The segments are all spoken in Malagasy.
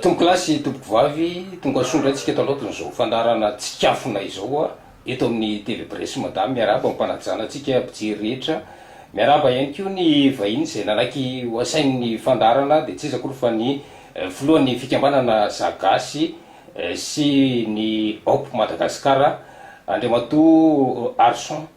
Tompoko lahy sy tompoko vavy, tonga soa indray tsika eto andraotin'izao fandaharana tsikafona izao a, eto amin'ny Télé Bresse Madame, miarahaba ampanajana antsika mpijery rehetra, miarahaba ihany koa ny vahiny izay nanaiky ho asainy ny fandaharana, dia tsy iza akory fa ny filohan'ny fikambanana Za Gasy sy ny Hope Madagascar, Andriamatoa Arson.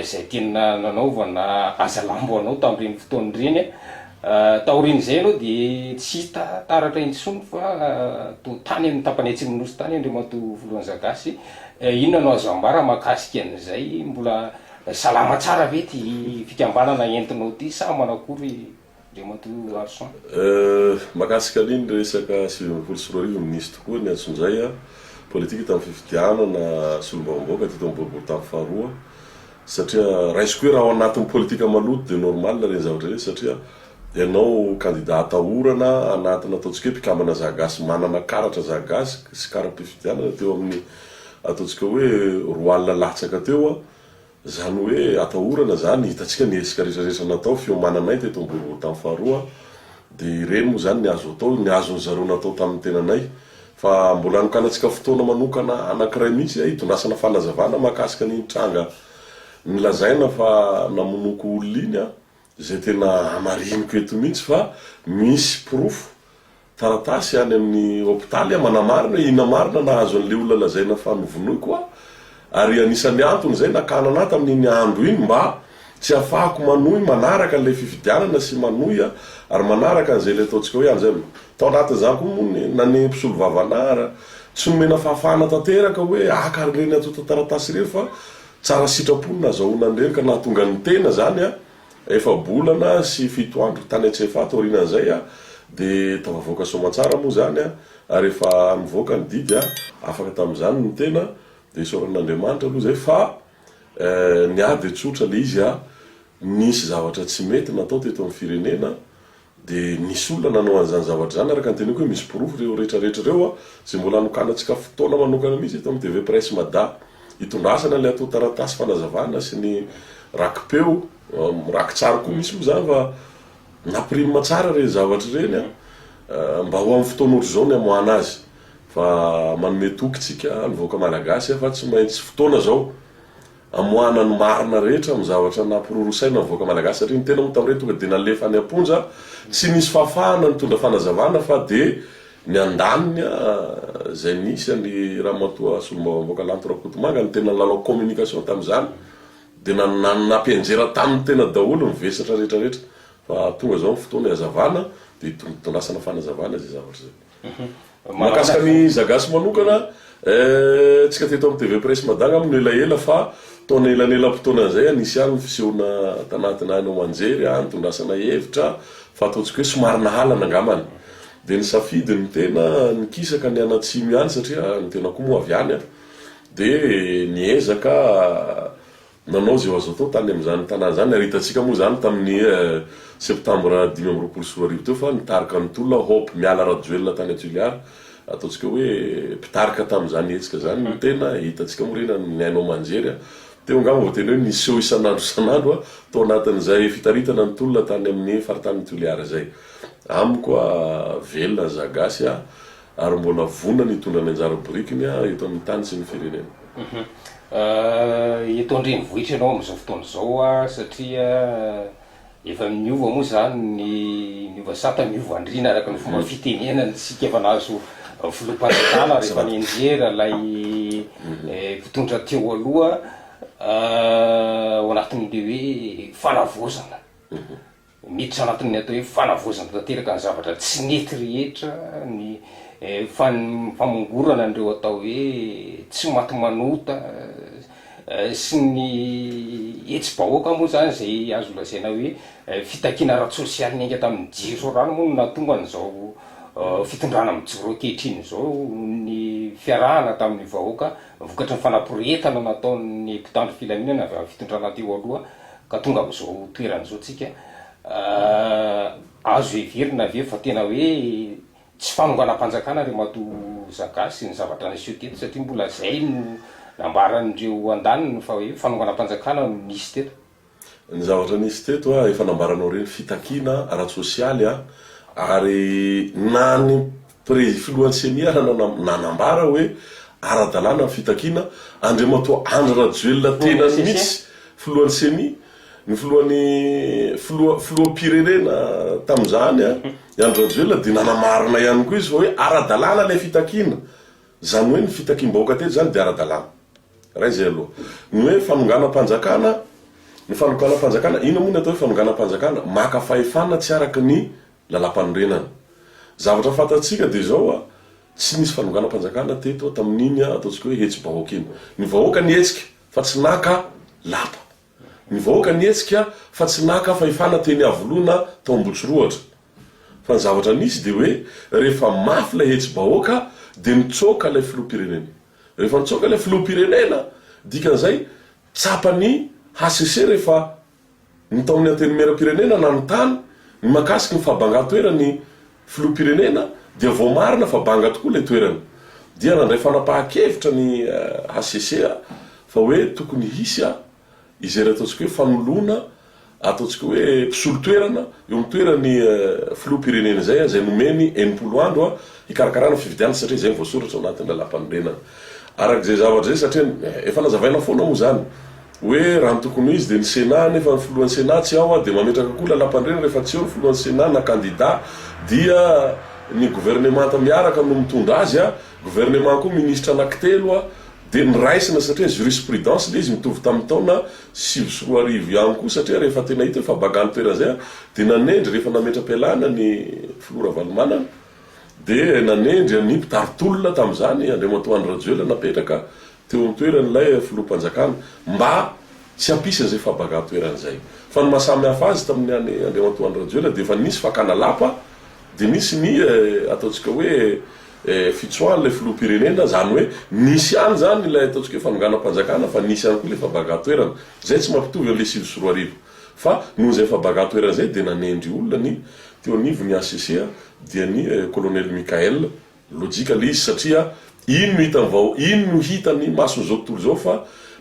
izay tiana nanaovana asa lambo anao tamin'ireny fotoana ireny. Taorian'izay ianao dia tsy hita taratra intsony fa toa tany amin'ny tapany atsimon'ny Nosy tany Andriamatoa Voloanzaga sy inona no azo ambara mahakasika an'izay? Mbola salama tsara ve ity fikambanana entinao ity sa manakory? Andriamatoa Arson. Euh, mahakasika ny ny resaka sivy ambin'ny folo sy roa arivo, nisy tokoa ny antso izay an, politika tamin'ny fifidianana solombavambahoaka teto amin'ny boribory tamin'ny faharoa, satria raisiko hoe raha ao anatin'ny politika maloto dia normal ireny zavatra ireny satria ianao kandida atahorana anatina ataontsika hoe mpikambana zagasy manana karatra zagasy sy kara-pifidianana teo amin'ny ataontsika hoe roa alina latsaka teo an, Izany hoe atahorana izany, hitantsika ny hetsika rehetrarehetra natao, fiomananay teto Ambohibotany faharoa, dia ireny moa izany ny azo atao, ny azon'ny zareo natao tamin'ny tenanay. Fa mbola anokanantsika fotoana manokana anankiray mihitsy hitondrasana fanazavana mahakasika an'iny tranga nilazaina fa namonoako olona iny, Izay tena hamariniko eto mihitsy fa misy porofo, taratasy any amin'ny hopitaly manamarina hoe inona marina nahazo an'ilay olona lazaina fa novonoiko aho, ary anisan'ny antony izay nakanana ahy tamin'iny andro iny mba tsy hahafahako manohy manaraka an'ilay fifidianana sy manohy ary manaraka an'izay ilay ataontsika hoe anja no. Tao anatin'izany koa moa ny nanenhy mpisolovava anah ary tsy nomena fahafahana tanteraka hoe haka an'ireny antontan-taratasy ireny fa Tsara sitrapo ny nazahoana an'i Rery ka nahatonga ny tena izany efa-bolana sy fito andro tany Antsefa taorianan'izay dia tafavoaka soamantsara moa izany ary efa nivoaka ny didy afaka tamin'izany ny tena dia isaorana an'Andriamanitra aloha izay fa ny ady tsotra ilay izy nisy zavatra tsy mety natao teto amin'ny firenena Dia nisy olona nanao an'izany zavatra izany, araka ny teneniko hoe misy porofo ireo rehetra rehetra ireo a, izay mbola hanokanantsika fotoana manokana mihitsy eto amin'ny TV Presse Mada hitondrasana ilay ato taratasy fanazavana sy ny rakipeo, rakitsary koa misy moa izany fa napirimina tsara ireny zavatra ireny a, mba ho amin'ny fotoana ohatr'izao ny hamoahana azy fa manome toky isika ny vahoaka malagasy a fa tsy maintsy fotoana izao. Amoahana ny marina rehetra amin'ny zavatra nampirorosaina ny vahoaka Malagasy satria ny tena moa tamin'ireny tonga dia nalefa any am-ponja, tsy nisy fahafahana nitondra fanazavana fa dia ny andaniny izay nisy an'i Ramatoa Solombavambahoaka Lanto Rakotomanga no tena nilalao communication tamin'izany dia nampianjera taminy tena daholo ny vesatra rehetra rehetra fa tonga izao ny fotoana hihazavana dia hitondrasana fanazavana izay zavatra izay. Mahakasika an'i Zagasy manokana, eh, antsika teto amin'ny TV Presse Mada angamba no elaela fa tao anelanelam-potoana izay ah, nisy ihany ny fisehoana tanatin'ny haino aman-jery ah, nitondrasana hevitra fa ataontsika hoe somary nahalana angambany. Dia nisafidy ny tena nikisaka ny any Atsimo ihany satria ny tena koa moa avy any ah. Dia niezaka. Nanao izay ho azo atao tany amin'izany tanàna izany ary hitantsika moa izany tamin'ny septambra dimy amby roapolo sy roa arivo teo fa nitarika ny tolona Hope Miala Rajoelina tany à Toliara, ataontsika hoe mpitarika tamin'izany hetsika izany no tena hitantsika moa re na ny haino aman-jery teo angamba vao tena hoe niseho isan'andro isan'andro tao anatin'izay fitaritana ny tolona tany amin'ny faritanin'i Toliara izay. Amiko velona ny Zagasy. ary mbola vonona ny hitondra ny anjara birikiny eto amin'ny tany sy ny firenena. Eto an-drenivohitra ianao amin'izao fotoana izao satria efa niova moa izany ny niova sata niova andriana araka ny fomba fitenenana isika efa nahazo filoham-panjakana rehefa nianjera ilay mpitondra teo aloha ao anatin'ilay hoe fanavaozana. Miditra anatin'ny atao hoe fanavaozana tanteraka ny zavatra tsy nety rehetra ny famongorana an'ireo atao hoe tsy maty manota sy ny hetsi-bahoaka moa izany izay azo lazaina hoe fitakiana ara-tsosialy niainga tamin'ny jiro sy rano moa no nahatonga an'izao fitondrana mijoro ankehitriny izao ny fiarahana tamin'ny vahoaka vokatry ny fanaporetana nataon'ny mpitandro filaminana avy amin'ny fitondrana teo aloha Ka tonga amin'izao toerana izao tsika. Azo heverina ve fa tena hoe tsy fanonganam-panjakana ry matoa Zaga sy ny zavatra niseho teto satria mbola izay no nambaran'ireo andaniny fa hoe fanonganam-panjakana no nisy teto? Ny zavatra nisy teto efa nambaranao ireny, fitakiana ara-tsosialy ary na ny Prezy filohan'ny ceni hanana nanambara hoe ara-dalàna ny fitakiana, Andriamatoa Andry Rajoelina tenany mihitsy, filohan'ny ceni, ny filohan'ny filoha filoham-pirenena tamin'izany i Andry Rajoelina dia nanamarina ihany koa izy fa hoe ara-dalàna ilay fitakiana, izany hoe ny fitakiam-bahoaka teto izany dia ara-dalàna. Iray izay aloha. Ny hoe fanonganam-panjakana, ny fanokanam-panjakana, inona moa ny atao hoe fanonganam-panjakana? Maka fahefana tsy araka ny Lalampanorenana. Zavatra fantatsika dia izao a, tsy nisy fanonganam-panjakana teto a, tamin'iny a, ataontsika hoe hetsi-bahoaka iny. Ny vahoaka nihetsika fa tsy naka lapa. Ny vahoaka nihetsika fa tsy naka fahefana teny Iavoloana tao Ambohitsirohotra. Fa ny zavatra nisy dia hoe rehefa mafy ilay hetsi-bahoaka dia nitsoaka ilay filoham-pirenena. Rehefa nitsoaka ilay filoham-pirenena, dikan'izay tsapan'ny HCC rehefa Ny taon'ny Antenimierampirenena nanontany ny mahakasika ny fahabangan-toeran'ny Filoham-pirenena dia voamarina fa banga tokoa ilay toerana. Dia nandray fanapahan-kevitra ny hcc fa hoe tokony hisy izay ataontsika hoe fanoloana ataontsika hoe mpisolo-toerana eo amin'ny toeran'ny Filoham-pirenena izay izay nomeny enimpolo andro hikarakarana fifidianana satria izay no voasoratra ao anatin'ny Lalàmpanorenana. Araka izay zavatra izay satria efa nazavaina foana moa izany. Hoe raha ny tokony ho izy dia ny Sénat nefa ny filohan'ny Sénat tsy ao dia mametraka koa lalampandriana rehefa tsy eo ny filohan'ny Sénat na kandida dia ny governemanta miaraka no mitondra azy, governemant koa ministra anankitelo dia niraisina satria jurisprudence ilay izy mitovy tamin'ny taona sivy sy roa arivo ihany koa satria rehefa tena hita hoe fa baga ny toerana izay dia nanendry rehefa nametra-pialana ny filoha Ravalomanana dia nanendry an'i mpitari-tolona tamin'izany Andriamatoa Andry Rajoelina napetraka teo an-toerana ilay filoham-panjakana mba tsy hampisy an'izay fahabangan-toerana izay. Fa ny maha samy hafa azy tamin'ny an'i Andriamatoa Andry Rajoelina dia efa nisy fakana lapa dia nisy ny ataontsika hoe fitsoahan'ilay filoham-pirenena, izany hoe nisy ihany izany ilay ataontsika hoe fanonganam-panjakana fa nisy ihany koa ilay fahabangan-toerana. Izay tsy mampitovy an'ilay sivy sy roa arivo fa noho izay fahabangan-toerana izay dia nanendry olona ny teo anivon'ny hcc dia ny Kolonely Michaël Lojika le izy satria iny no hitan'ny vahao iny no hitan'ny mason'izao tontolo izao fa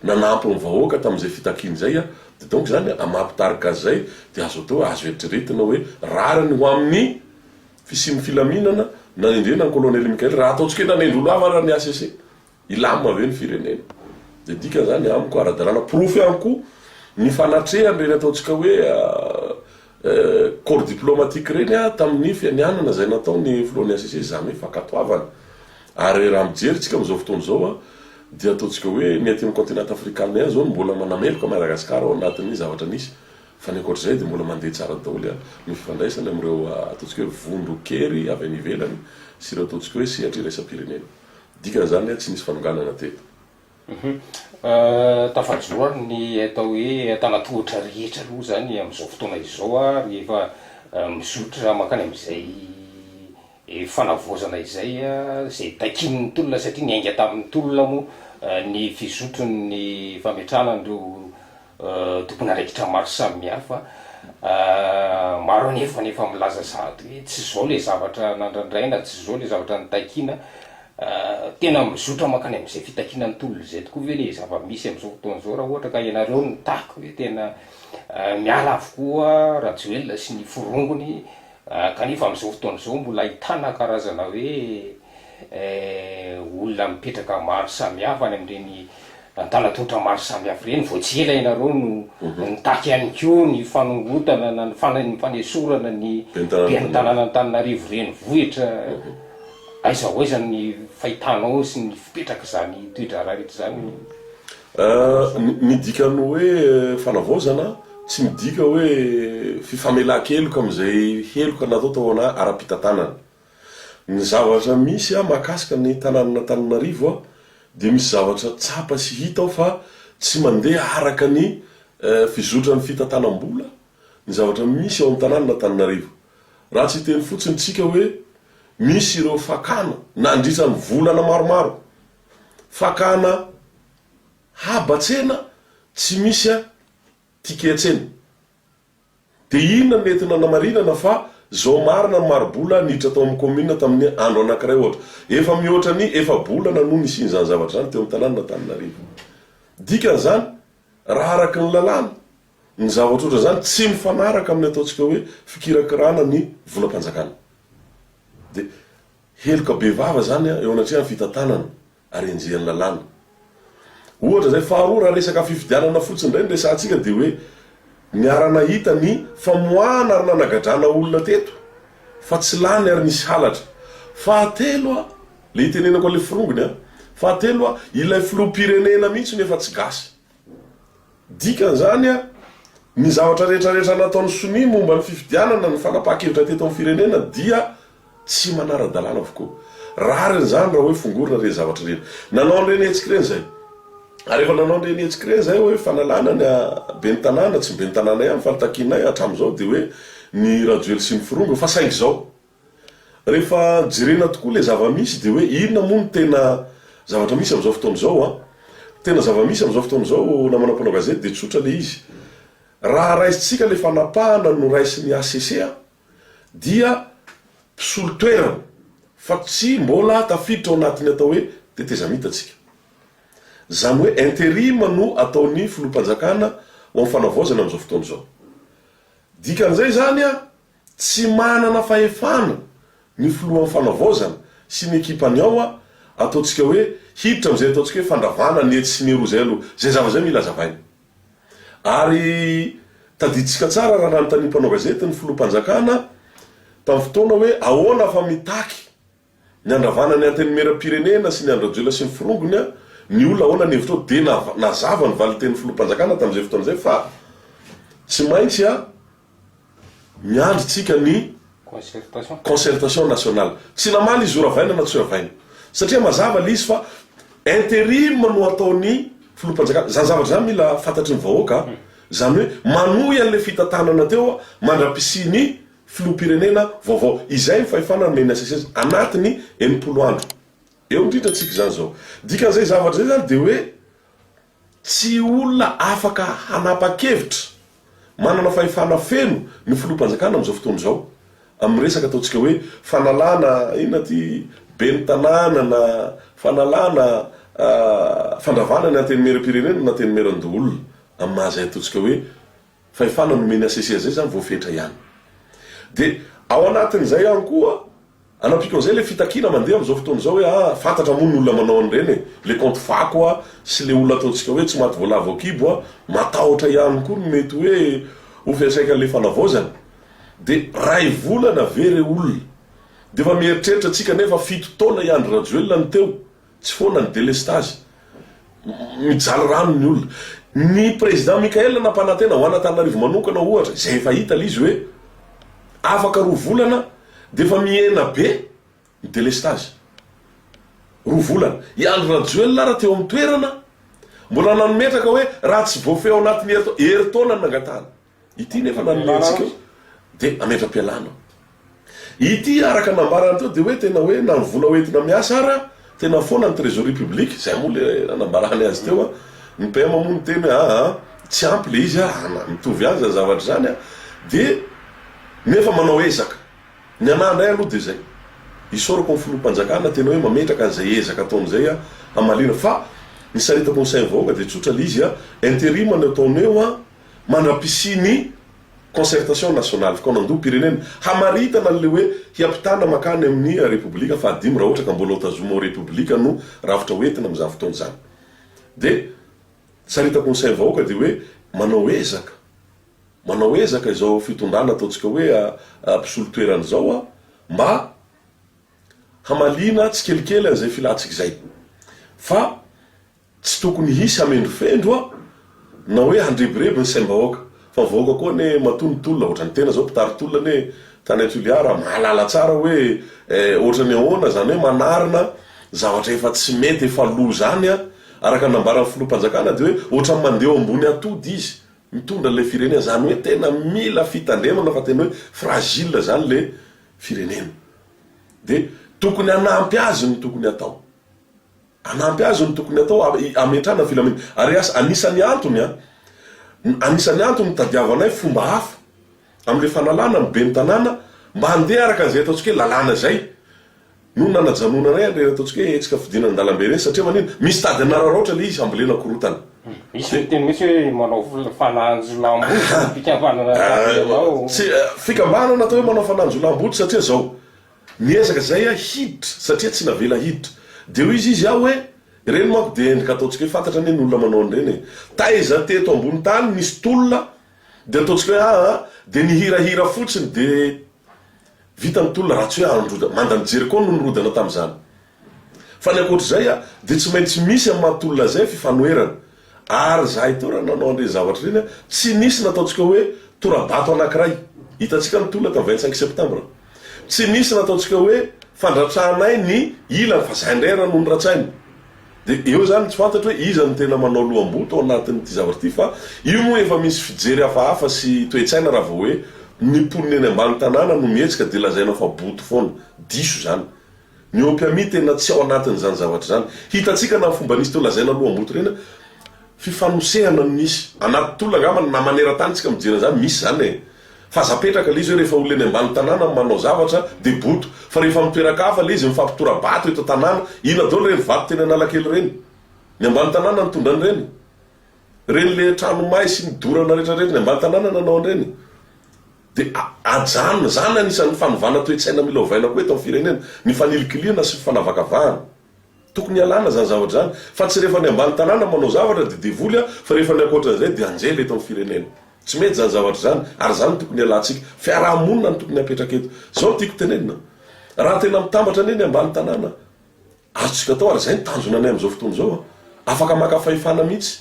nanampy ny vahoaka tamin'izay fitakiany izay a! Dia donc izany amampitarika azy izay dia azo atao hoe azo eritreretina hoe rariny ho amin'ny fisian'ny filaminana nanendrena an'i Colonel Mickael raha ataontsika hoe nanendry olo hafa ary ny HCC. Hilamina ve ny firenena? Dia dikany izany amiko ara-dalàna. Porofo ihany koa ny fanatrehany ireny ataontsika hoe corps diplomatique ireny tamin'ny fianianana izay nataon'ny filohan'ny HCC izany hoe fankatoavana. Ary raha mijery isika amin'izao fotoana izao dia ataontsika hoe ny aty amin'ny continent afrikanina ihany izao no mbola manameloka Madagascar ao anatin'ny zavatra nisy fa ny ankoatr'izay dia mbola mandeha tsara daholo ny fifandraisany amin'ireo ataontsika hoe vondron-kery avy any ivelany sy ireo ataontsika hoe sehatra iraisam-pirenena. Dikan'izany hoe tsy nisy fanonganana teto. Tafajoro ary ny atao hoe antanatohatra rehetra aloha izany amin'izao fotoana izao ary efa mizotra mankany amin'izay fanavaozana izay izay takian'ny tolona satria niainga tamin'ny tolona moa ny fizotron'ny fametrahana an'ireo Tompon'andraikitra maro samihafa. Maro anefa ny efa milaza sahady hoe tsy izao ilay zavatra nandrandraina, tsy izao ilay zavatra nitakiana. Tena mizotra mankany amin'izay fitakiana ny tolona izay tokoa ve ilay zava-misy amin'izao fotoana izao raha ohatra ka ianareo no mitaky hoe tena miala avokoa Rajoelina sy ny forongony? Kanefa amin'izao fotoana izao mbola ahitana karazana hoe olona mipetraka maro samihafa any amin'ireny antanan-tonitra maro samihafa ireny. Vao tsy ela ianareo no nitaky ihany koa ny fanongotana na ny fanesorana ny ben'ny tanànan'Antananarivo renivohitra. Aiza ho aiza ny fahitanao sy ny fipetrak'izany toe-draharaha rehetra izany? Ny dikan'ny hoe fanavaozana tsy midika hoe fifamelan-keloka amin'izay heloka natao tao an ara-pitantanana. Ny zavatra misy an mahakasika ny tanànan'Antananarivo an dia misy zavatra tsapa sy hita ao fa tsy mandeha araka ny fizotran'ny fitantanam-bola ny zavatra misy ao amin'ny tanànan'Antananarivo. Raha tsy hiteny fotsiny isika hoe misy ireo fakana nandritra ny volana maromaro Fakana haba tsena tsy misy a ticket tsena. Dia inona no nety nanamarinana fa zao marina ny maribola niditra tao amin'ny commune tamin'ny andro anankiray ohatra. Efa mihoatra ny efa-bolana no nisian'izany zavatra izany teo amin'ny tanànan'Antananarivo. Dikan'izany, raha araka ny lalàna, ny zavatra ohatran'izany tsy mifanaraka amin'ny ataontsika hoe fikirakirana ny volam-panjakana. Dia. Heloka bevava izany eo anatrehan'ny fitantanana ary enjehin'ny lalàna. Ohatra izay. Faharoa, raha resaka fifidianana fotsiny indray no resahantsika dia hoe niara-nahita ny famoahana ary nanagadrana olona teto fa tsy lany ary nisy halatra. Fahatelo, ilay itenenako an'ilay forongony, fahatelo, ilay filoham-pirenena mihitsy no efa tsy gasy. Dikan'izany, ny zavatra rehetra rehetra nataon'ny sonia momba ny fifidianana, ny fanapahan-kevitra teto amin'ny firenena dia tsy manara-dalàna avokoa. Rariny izany raha hoe fongorina ireny zavatra ireny. Nanao an'ireny hetsika ireny izay. Ary rehefa nanao an'ireny hetsika ireny izay hoe fanalana ny ben'ny tanàna, tsy ny ben'ny tanàna ihany fa ny takianay hatramin'izao dia hoe ny Rajoely sy ny Firongo fa saingy izao. Rehefa jerena tokoa ilay zava-misy dia hoe inona moa no tena zavatra misy amin'izao fotoana izao an? Tena zava-misy amin'izao fotoana izao namana mpanao gazety dia tsotra ilay izy. Raha raisintsika ilay fanapahana noraisin'ny HCC an, dia mpisolo toerana fa tsy mbola tafiditra ao anatin'ny atao hoe tetezamita tsika. Izany hoe interim no ataon'ny filoham-panjakana ho amin'ny fanavaozana amin'izao fotoana izao. Dikan'izay izany an, Tsy manana fahefana ny filohan'ny fanavaozana sy ny ekipany ao a, ataontsika hoe hiditra amin'izay ataontsika hoe fandravana ny etsy sy ny eroa izay aloha, izay zavatra izay mila hazavaina. Ary tadidintsika tsara raha nanontanian'ny mpanao gazety ny filoham-panjakana tamin'ny fotoana hoe ahoana fa mitaky Ny handravana ny Antenimieram-pirenena sy ny an-dRajoelina sy ny forongony a! Ny olona ahoana ny hevitrao? Dia nazava ny valin-tenin'ny Filoham-panjakana tamin'izay fotoana izay fa tsy maintsy a! miandry tsika ny concertation nationale. Tsy namaly izy io ravaina na tsy ravaina. Satria mazava le izy fa interim no ataon'ny Filoham-panjakana. Izany zavatra izany mila fantatry ny vahoaka a! Izany hoe manohy an'ilay fitantanana teo mandra-pisian'ny Filoham-pirenena vaovao izay ny fahefana nomen'ny HCC anatiny enimpolo andro eo indrindra tsika izany izao. Dikan'izay zavatra izay izany dia hoe tsy olona afaka hanapa-kevitra manana fahefana feno ny filoham-panjakana amin'izao fotoana izao amin'ny resaka ataontsika hoe fanalana inona ity ben'ny tanàna na fanalana fandravana ny antenimieram-pirenena na antenimieran-doholona amin'ny maha izay ataontsika hoe Fahefana nomeny HCC izay izany voafetra ihany. Dia ao anatin'izay ihany koa, anampiako an'izay ilay fitakiana mandeha amin'izao fotoana izao hoe ah, fantatra moa ny olona manao an'ireny e, ilay kaonty fako a, sy ilay olona ataontsika hoe tsy maty voalavo ao kibo a, matahotra ihany koa ny mety hoe ho fiantraikan'ilay fanavaozana. Dia ray volana ve re olona? Dia efa mieritreritra tsika nefa fito taona i Andry Rajoelina no teo Tsy foana ny delestazy. Mijaly rano ny olona. Ny Président Michael nampanantena ho an'Antananarivo manokana ohatra, izay efa hita le izy hoe afaka roa volana dia efa mihena be ny delestazy. Roa volana. I Andry Rajoelina ara teo amin'ny toerana mbola nanometraka hoe raha tsy voafehy ao anatin'ny herintaona ny nangatahana. Ity nefa nanome antsika io dia ametra-pialana. Ity araka ny nambarany teo dia hoe tena hoe na ny vola hoentina miasa ara tena foana ny trésorerie publique, zay moa le nanambarany azy teo a. Ny PM moa niteny hoe aa tsy ampy le izy a, mitovy ihany zany zavatra zany a. Dia nefa manao ezaka. Ny anah ndray aloha dia zay, isaorako ny Filoham-panjakana tena hoe mametraka an'izay ezaka ataony izay a, hamaliana. Fa ny saritako ny sain'ny vahoaka dia tsotra le izy a, interim no ataony eo a, Mandra-pisian' ny Concertation Nationale, fikaonandoham-pirenena, hamaritana an'ilay hoe hiampitana mankany amin'ny Repoblika fahadimy raha ohatra ka mbola ho tazoma ho Repoblika no rafitra hoentina amin'izany fotoana izany. Dia saritako ny sain'ny vahoaka dia hoe manao ezaka, manao ezaka izao fitondrana ataontsika hoe mpisolo toerana izao mba hamaliana tsikelikely an'izay filantsika izay. Fa Tsy tokony hisy hamendrofendro a! na hoe handrebireby ny saim-bahoaka. Fa ny vahoaka koa anie matoa ny tolona, ohatran'ny tena zao mpitari tolona anie tany Toliara mahalala tsara hoe eh ohatran'ny ahoana zany hoe manarina zavatra efa tsy mety efa lo zany a! araka ny nambaran'ny filoham-panjakana dia hoe ohatran'ny mandeha eo ambony atody izy mitondra ilay firenena zany hoe tena mila fitandremana fa tena hoe fragile zany le firenena dia tokony hanampy azy no tokony hatao. Hanampy azy no tokony hatao hametrahana ny filaminana ary asa. Anisan'ny antony an! Anisan'ny antony nitadiavanay fomba hafa amin'ilay fanalana ny ben'ny tanàna mba handeha araka an'izay ataontsika hoe lalàna izay no nanajanona indray an'ireny ataontsika hoe hetsika fidinana an-dalambe ireny satria manina? Misy tady hanararaotra ilay izy hambolena korontana. Misy miteny mihitsy hoe manao fananjolam-body ny fikambanana anareo ao. Fikambanana atao hoe manao fananjolam-body satria izao, Niezaka izay aho hiditra satria tsy navela hiditra. Dia hoy izy izy aho hoe, ireny manko dia endrika ataontsika hoe fantatra anie ny olona manao an'ireny e. Taiza teto ambony tany nisy tolona dia ataontsika hoe aa dia nihirahira fotsiny dia vita ny tolona raha tsy hoe andro manda nijery koa no nirodana tamin'izany. Fa ny ankoatra izay a, dia tsy maintsy misy amin'ny maha tolona izay fifanoherana. Ary izahay ito raha nanao an'ireny zavatra ireny a, tsy nisy nataontsika hoe tora-bato anankiray. Hitantsika ny tolona tamin'ny vingt cinq septembre. Tsy nisy nataontsika hoe fandratrahanay ny ilany fa izay indray raha no noratsaina. Dia eo izany tsy fantatro hoe iza no tena manao loham-boto ao anatin'ity zavatra ity fa io moa efa misy fijery hafahafa sy toe-tsaina raha vao hoe ny mponina eny ambany tanàna no mihetsika dia lazaina fa boto foana. Diso izany. Ny opiami tena tsy ao anatin'izany zavatra izany. Hitantsika na ny fomba nisy teo lazaina aloha amboto ireny a! Fifanosehana no nisy. Anaty tolona angamba na maneran-tany tsika mijery an'izany, misy izany e! Fa aza apetraka ilay izy hoe rehefa olona eny ambany tanàna no manao zavatra dia boto. Fa rehefa amin'ny toeran-kafa ilay izy mifampitora-bato eto an-tanàna, inona daholo ireny vato teny Analakely ireny? Ny ambany tanàna nitondra an'ireny? Ireny le trano may sy ny dorana rehetra ireny, ny ambany tanàna nanao an'ireny? Dia ajanona izany anisan'ny fanovana toe-tsaina mila ovaina koa eto amin'ny firenena, ny fanilikilihana sy fanavakavahana. Tokony ialana izany zavatra izany, fa tsy rehefa ny ambany tanàna manao zavatra dia devoly fa rehefa ny ankoatran'izay dia anjely eto amin'ny firenena. Tsy mety izany zavatra izany ary izany no tokony hialantsika. Fiaraha-monina no tokony hapetraka eto. Izao no tiako tenenina, raha tena mitambatra anie ny ambany tanàna, Azontsika atao ary izay no tanjona anay amin'izao fotoana izao. Afaka maka fahefana mihitsy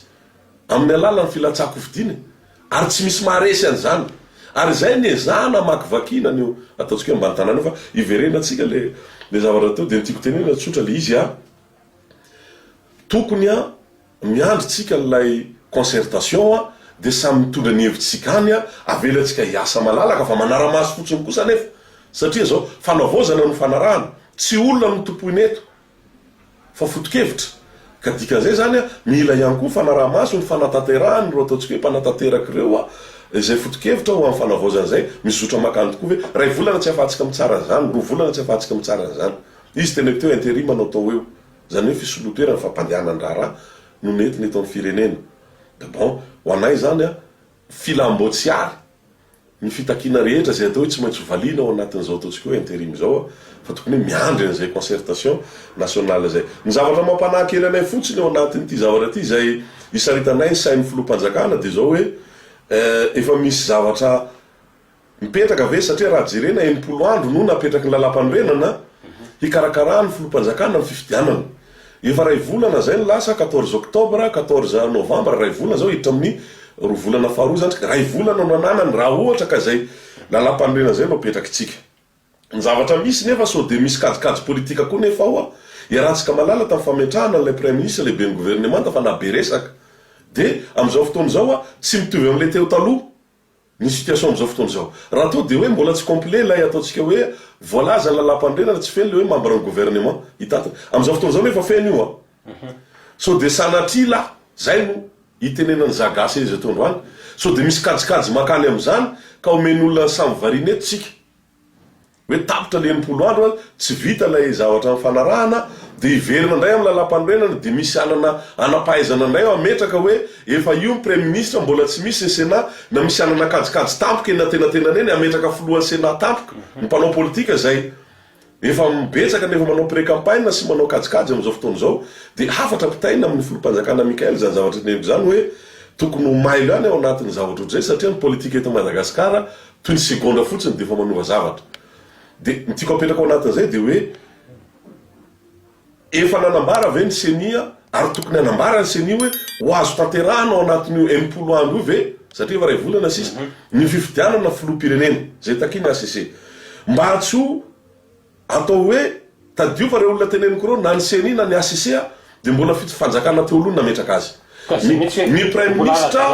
amin'ny alalan'ny filatsahan-kofidina e! Ary tsy misy maharesy an'izany. Ary izay no ezahana hamakivaky na ny eo ataontsika hoe ambany tanàna eo fa iverenantsika ilay zavatra teo dia ny tiako tenenina tsotra ilay izy a! Tokony a! Miandry tsika ilay concertation a, dia samy mitondra ny hevitr'tsika any a, avelantsika hiasa malalaka fa manara-maso fotsiny kosa anefa satria izao fanavaozana no fanarahana, tsy olona no tompoina eto fa fotokevitra ka dikan'izay izany a, mila ihany koa fanaraha-maso ny fanatanterahan' ireo ataontsika hoe mpanatanteraka ireo a, izay fotokevitra ho amin'ny fanavaozana izay, misy zotra makany tokoa ve? Iray volana tsy ahafahantsika mitsara an'izany, roa volana tsy ahafahantsika mitsara an'izany. Izy tena eo teo interim anao tao eo. Izany hoe fisoloan-toerana ny fampandehanan-draharaha no nentina eto amin'ny firenena. Da bon, ho anay izany an, filam-boatsiary ny fitakiana rehetra izay atao hoe tsy maintsy ho valiana ao anatin'izao ataontsika hoe interim izao an, fa tokony hoe miandry an'izay concertation nationale izay. Ny zavatra mampanahy kely anay fotsiny ao anatin'ity zavatra ity izay isaritanay ny sain'ny filoham-panjakana dia izao hoe efa misy zavatra Mipetraka ve satria raha jerena enimpolo andro no napetraky ny Lalàmpanorenana hikarakarà ny Filoham-panjakana ny fifidianana. Efa iray volana izay no lasa, quatorze octobre, quatorze novembre, iray volana izao hiditra amin'ny roa volana faharoa izany isika, iray volana no ananany raha ohatra ka izay Lalàmpanorenana izay no apetrakitsika. Ny zavatra misy nefa sao dia misy kajikajy politika koa nefa ao an! Iarahantsika malala tamin'ny fametrahana an'ilay Praiminisitra lehiben'ny Governemanta fa na be resaka dia amin'izao fotoana izao an, tsy mitovy amin'ilay teo taloha. ny situation amin'izao fotoana izao. Raha toa dia hoe mbola tsy complet ilay ataontsika hoe voalaza ny lalàmpanorenana, tsy feno ilay hoe membre ny gouvernement hitantana. Amin'izao fotoana izao nefa feno io an! Sao dia sanatria la, izay no itenenan'i za gasy ery izay toa androany, sao dia misy kajikajy makany amin'izany ka omen'olona ny samy variana eto tsika. Hoe tapitra ny enimpolo andro an, tsy vita ilay zavatra nifanarahana, dia hiverina indray amin'ny lalàmpanorenana, dia misy anana anampahaizana indray hametraka hoe efa io ny praiminisitra, mbola tsy misy ny senat, na misy anana kajikajy tampoka eny antenatenany eny, hametraka filohan'ny senat tampoka, ny mpanao politika izay efa betsaka ny efa manao pré-campagne sy manao kajikajy amin'izao fotoana izao, dia hafatra ampitaina amin'ny filoham-panjakana Michael izany zavatra teneniko izany hoe tokony ho mailo ihany ao anatin'ny zavatra ohatr'izay satria ny politika eto Madagasikara Toy ny segondra fotsiny dia efa manova zavatra. Dia ny tiako apetraka ao anatin'izay dia hoe efa nanambara ve ny ceni ary tokony hanambara ny ceni hoe ho azo tanterahina ao anatin'io enimpolo andro io ve satria efa iray volana sisa ny fifidianana filoham-pirenena izay takian'ny hcc mba tsy ho Atao hoe, tadidio fa ireo olona teneniko ireo, na ny ceni na ny HCC, dia mbola fito fanjakana teo aloha no nametraka azy. Ny praiminisitra,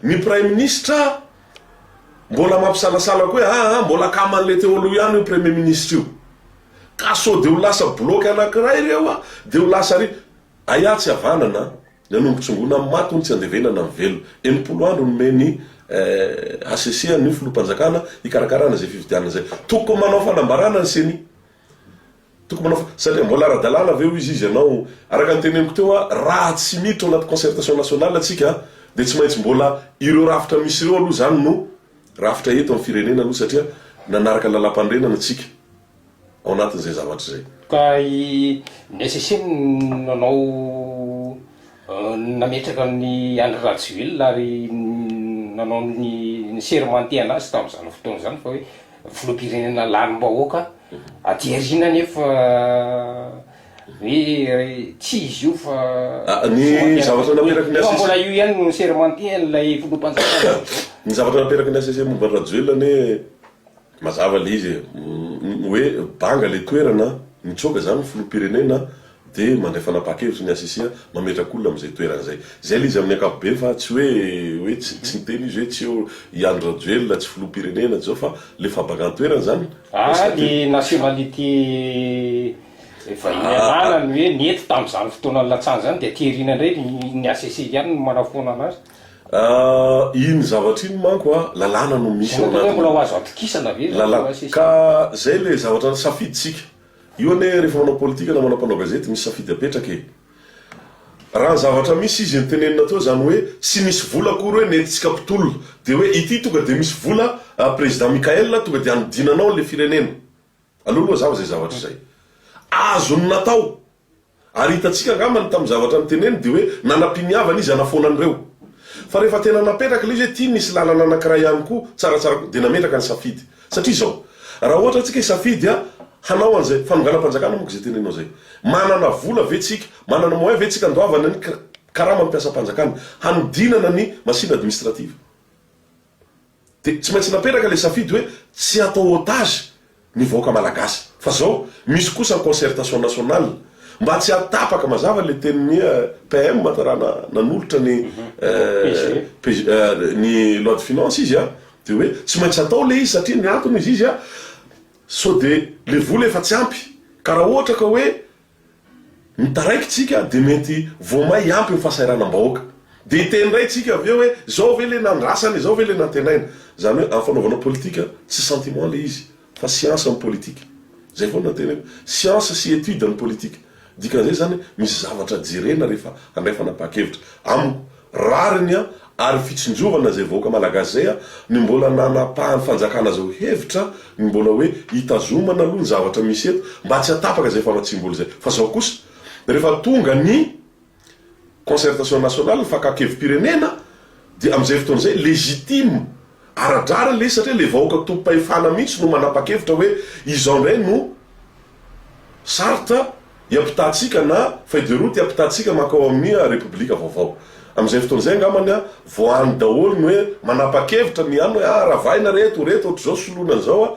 ny praiminisitra mbola mampisalasala koa hoe aa, mbola akaman'ilay teo aloha ihany io premier ministre io. Ka sao dia ho lasa bloc anankiray ireo dia ho lasa ary. Aia tsy havanana an. Ny an'ombin-tsongona amin'ny maty hono tsy andevenana amin'ny velona. Enimpolo andro nomen'ny HCC an'io filoham-panjakana hikarakarana izay fifidianana izay. Tokony manao fanambarana ny ceni. Tokony manao fa, satria mbola ara-dalàna ve hoy izy, izy ianao, araka ny teneniko teo a, raha tsy miditra ao anaty concertation nationale tsika dia tsy maintsy mbola ireo rafitra misy ireo aloha izany no rafitra eto amin'ny firenena aloha satria nanaraka ny lalàmpanorenana tsika. ao anatin'izay zavatra izay. Ka i Nacc no nanao nametraka an'i Andry Rajoelina ary nanao ny nisermantehana azy tamin'izany fotoana izany fa hoe filoham-pirenena lanim-bahoaka aty aoriana nefa hoe tsy izy io fa Ny zavatra nateraky ny nefa Nacc. mbola io ihany no nisermantehan'ilay filoham-panjakana. Ny zavatra nateraky ny Nacc momba an'i Rajoelina anie. Mazava le izy e, hoe banga le toerana, mitsoaka zany ny filoham-pirenena de mandray fanapahan-kevitra ny HCC a, mametraka olona amzay toerana zay. Zay le izy amin'ny ankapobeny fa tsy hoe hoe tsy niteny izy hoe tsy eo i Andry Rajoelina, tsy filoham-pirenena, tsy zao fa le fambangan-toerana zany Ah le nationality vahiny ananany hoe nety tamzany fotoana nilatsahany zany de Thierryn indray ny HCC ihany no manafoana anazy. Ah, iny zavatra iny manko ah, lalàna no misy ao anatiny. Zay mbola ho azo atokisana ve izany lalàna? Ka izay ilay zavatra safidintsika. Io anie rehefa manao politika namana mpanao gazety misy safidy apetraka e. Raha ny zavatra misy izy notenenina teo izany hoe tsy misy vola akory hoe nentintsika mpitolona dia hoe ity tonga dia misy vola, président Mickaël tonga dia hanodinana ao ilay firenena. Aleo aloha hazava izay zavatra izay azony natao. Ary hitantsika angamba ny tamin'ny zavatra noteneniny dia hoe nanam-piniavana izy hanafoana an'ireo. Fa rehefa tena napetraka ilay izy hoe ity no hisy lalana anankiray ihany koa, tsaratsara koa, dia nametraka ny safidy. Satria izao, raha ohatra hoe tsika hisafidy a, hanao an'izay, fanonganam-panjakana moa koa izay tenenao izay. Manana vola ve tsika, manana moyen ve tsika andoavana ny karaman'ny mpiasam-panjakana, hanodinana ny machine administrative. Dia tsy maintsy napetraka ilay safidy hoe tsy hatao otage ny vahoaka malagasy. Fa zao, misy kosa ny concertation nationale. Mba tsy hahatapaka, mazava ilay tenin'ny PM an, raha nanolotra ny PG, ny loi de finance izy an, dia hoe tsy maintsy hatao ilay izy satria ny antony hoy izy izy an, sao dia ilay vola efa tsy ampy. Ka raha ohatra ka hoe Ny taraikitsika dia mety vao may hiampy ny fahasahiranam-bahoaka. Dia hiteny indray tsika avy eo hoe izao ve ilay nandrasana, izao ve ilay nantenaina. Izany hoe amin'ny fanaovana politika tsy sentiment ilay izy fa siansa ny politika. Izay foana no teneniko. Siansa sy étude ny politika. Dikan'izay izany hoe misy zavatra jerena rehefa handray fanapahan-kevitra. Amiko Rariny ary fitsinjovana izay vahoaka malagasy izay no mbola nanapahan'ny fanjakana azy ao hevitra ny mbola hoe hitazomana aloha ny zavatra misy eto mba tsy hatapaka izay famatsiam-bola izay fa izao kosa rehefa tonga ny concertation nationale ny fakakevom-pirenena dia amin'izay fotoana izay legitime ara-drariny ilay izy satria ilay vahoaka tompom-pahefana mihitsy no manapa-kevitra hoe izao indray no Sarthe hiampitahantsika na feuille de route hiampitahantsika mankao amin'ny Repoblika vaovao. Amin'izay fotoana izay angambany vao hany daholo ny hoe manapa-kevitra ny hany hoe ah ravahina reto, reto ohatr'izao soloina an'izao ah.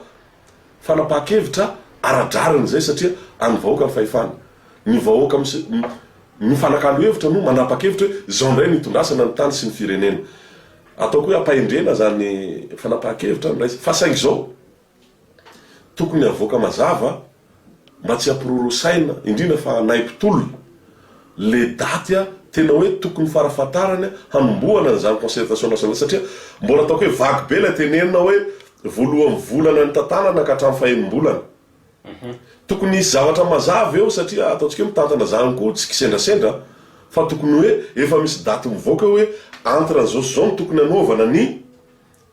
Fanapahan-kevitra ara-drariny izay satria an'ny vahoaka ny fahefana. Ny vahoaka mifanakalo hevitra no manapa-kevitra hoe izao indray no hitondrasana ny tany sy ny firenena. Ataoko hoe ampahendrena izany fanapahan-kevitra fa saingy izao. Tokony havoaka mazava mba tsy hampirorosaina indrindra fa anay mpitolona le daty a! tena hoe tokony farafatarany a! hanombohana an'izany concertation nationale izany satria mbola ataoko hoe vague be ilay tenenina hoe voalohan'ny volana nitantanana ka hatramin'ny fahenim-bolana. Tokony hisy zavatra mazava eo satria ataontsika hoe mitantana izany koa tsy kisendrasendra fa tokony hoe efa misy daty mivoaka eo hoe entre an'izao sy izao no tokony hanaovana ny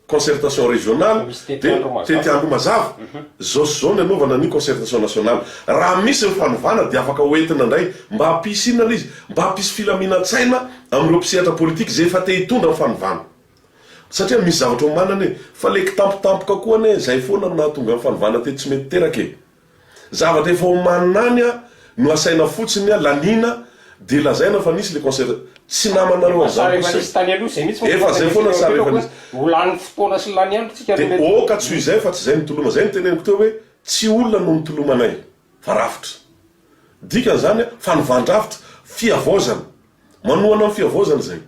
Concertation régionale dia tety andro mazava zao sy zao ny anaovana ny concertation nationale. Raha misy ny fanovana dia afaka ho entina indray mba hampisy inona ilay izy? Mba hampisy filaminan-tsaina amin'ireo mpisehatra politika izay efa te hitondra ny fanovana. Satria misy zavatra omanana e! Fa ilay kitampotampoka koa anie izay foana no nahatonga ny fanovana teto tsy mety teraka e! Zavatra efa omanina any no asaina fotsiny laniana dia lazaina fa nisy le concert tsy namanareo an'izany kosa e! Efa zay foana sa rehefa nisy dia ok tsy ho izay fa tsy zay ny toloma, zay ny teneniko teo hoe tsy olona no nitolomanay fa rafitra! Dikan'izany fanovàn-drafitra, fihavaozana, manohana ny fihavaozana izay.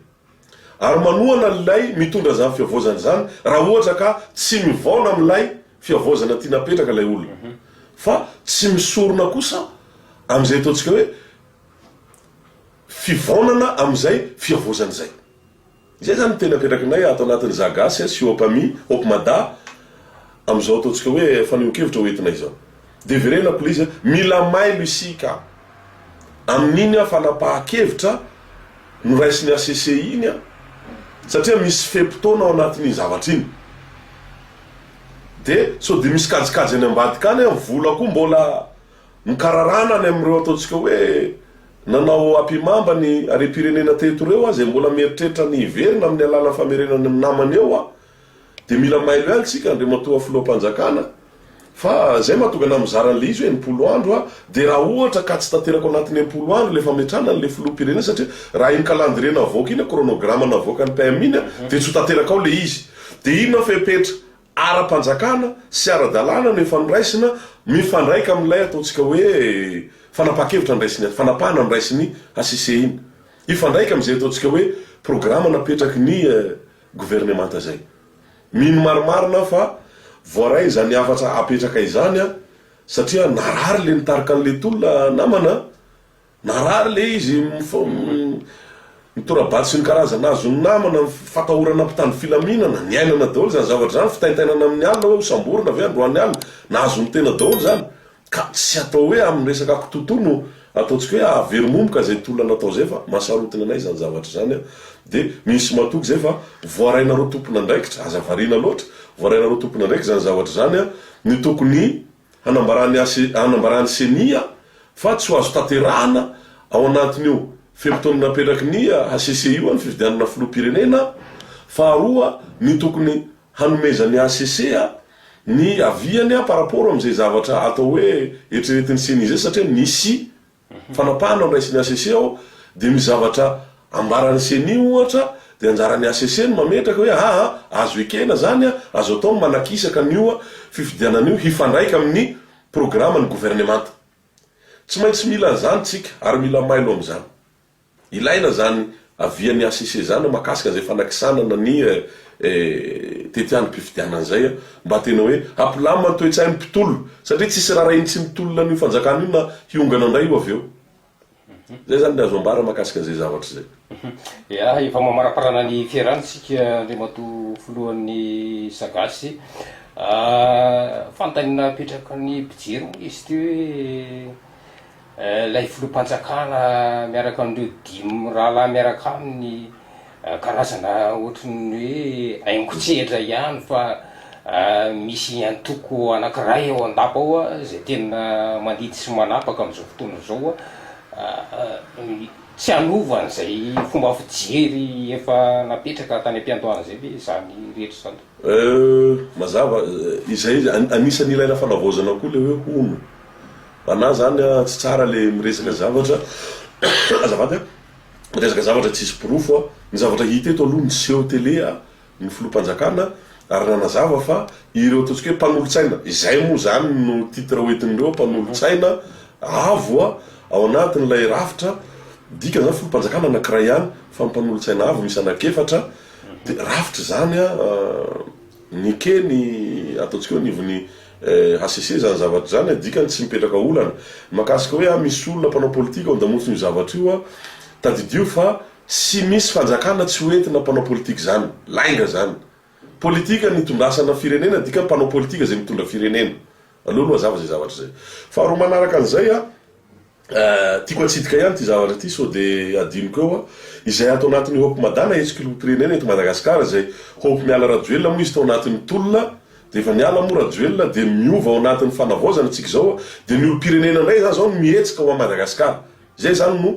Ary manohana an'ilay mitondra izany fihavaozana izany raha ohatra ka tsy mivaona amin'ilay fihavaozana tiana apetraka ilay olona. Fa tsy misorona kosa amin'izay ataontsika hoe fivaonana amin'izay fihavaozana izay. Izay izany no tena apetrakinay ato anatin'ny Zagasy sy Hope Ami, Hope Mada, Amin'izao ataontsika hoe fanehoan-kevitra ho entina izao. Dia verena please a! Mila mailo isika amin'iny a fanapahan-kevitra noraisin'ny HCC iny a! Satria misy fe-potoana ao anatin'iny zavatra iny. Dia sao dia misy kajikajy any ambadika any a! Vola koa mbola mikararana any amin'ireo ataontsika hoe nanao apimamba ny harem-pirenena teto ireo a! Izay mbola mieritreritra ny hiverina amin'ny alalan'ny famerenana ny namany eo a! Dia mila mailo ihany tsika Andriamatoa Filoham-panjakana fa izay mahatonga anah mizara an'ilay izy hoe enimpolo andro aho dia raha ohatra ka tsy tanterako anatin'ny enimpolo andro ilay fametrahana an'ilay Filoham-pirenena satria raha iny calendrier navoaka iny, chronogramme navoakan'ny PM iny dia tsy ho tanterakao ilay izy dia inona fepetra ara-panjakana sy ara-dalàna no efa noraisina mifandraika amin'ilay ataontsika hoe fanapahan-kevitra niraisin'ny fanapahana niraisin'ny HCC iny hifandraika amin'izay ataontsika hoe programa napetraky ny governemanta izay. Mino marimarina aho fa voaray izany hafatra apetraka izany satria narary ilay nitarika an'ilay tolona namana, narary ilay izy, ny tora-bato sy ny karazana azon'ny namana, ny fatahorana mpitandro filaminana, niainana daholo izany zavatra izany, fitaintainana amin'ny alina hoe hosamborina ve androany alina, nahazo ny tena daholo izany, Ka tsy atao hoe amin'ny resaka kitoatoa no ataontsika hoe hahaveromomoka izay tolona natao izay fa mahasarotina anay izany zavatra izany an! Dia misy matoky izay fa voarainareo tompon'andraikitra, aza variana loatra, voarainareo tompon'andraikitra izany zavatra izany an! Ny tokony hanambaran'ny HC, hanambaran'ny Ceni an! Fa tsy ho azo tanterahana ao anatin'io fe-potoana napetraky ny HCC io an! ny fifidianana filoham-pirenena an! Faharoa, ny tokony hanomezan'ny HCC ny aviany par rapport amin'izay zavatra atao hoe eritreretin'ny ceni izay satria misy fanapahana noraisin'ny HCC ao dia misy zavatra ambaran'ny ceni ohatra dia anjaran'ny HCC ny mametraka hoe aa azo ekena izany a, azo atao ny manakisaka an'io fifidianana io hifandraika amin'ny programan'ny governemanta. Tsy maintsy mila an'izany tsika ary mila mailo amin'izany. Ilaina izany avian'ny hcc izany mahakasika izay fanakisanana ny tetiandrom-pifidianana izay mba tena hoe hampilamina ny toe-tsain'ny mpitolona satria tsy hisy raharahian'ny tsy mitolona an'io fanjakana io na hiongana indray io avy eo. Izay izany ny azo ambara mahakasika an'izay zavatra izay. Ia, efa mamaraparana ny fiarahana isika Andriamatoa Filohan'ny Sagasy. Fanontaniana apetraka ny mpijery moa izy ity hoe. Ilay filoham-panjakana miaraka amin'ireo dimy mirahalahy miaraka aminy karazana ohatran'ny hoe aingon-tsehatra ihany fa misy antoko anankiray ao an-dapa ao izay tena mandidy sy manapaka amin'izao fotoana izao tsy hanova an'izay fomba fijery efa napetraka tany am-piandohana izay ve izany rehetra izany? Mazava, izay anisan'ny ilaina fanavaozana koa ilay hoe hono Ana zany a tsy tsara le miresaka zavatra azafady a miresaka zavatra tsisy porofo a ny zavatra hita eto aloha ny seho tele a ny filoham-panjakana ary nanazava fa ireo ataontsika hoe mpanolotsaina izay moa zany no titre hoentin'ireo mpanolotsaina avo a ao anatin'ilay rafitra dikany zany filoham-panjakana anankiray ihany fa ny mpanolotsaina avo misy anankiefatra de rafitra izany a ny eke ny ataontsika hoe anivon'ny HCC izany zavatra izany a, dikany tsy mipetraka olana. Ny mahakasika hoe a misy olona mpanao politika ao an-damotson'io zavatra io a, tadidio fa tsy misy fanjakana tsy ho entina mpanao politika izany. Lainga izany. Politika ny hitondrasana firenena, dikany mpanao politika izay mitondra firenena. Aleo aloha hazava izay zavatra izay. Faharoa manaraka an'izay a, Tiako atsidika ihany ity zavatra ity sao dia hadinoko eo an. Izay ato anatin'ny Hope Mada na Entsikilompirenena eto Madagasikara izay Hope miala Rajoelina moa izy tao anatin'ny tolona dia efa miala moa Rajoelina dia miova ao anatin'ny fanavaozana tsika izao an dia ny olompirenena indray izany izao no mihetsika ho an Madagasikara izay izany no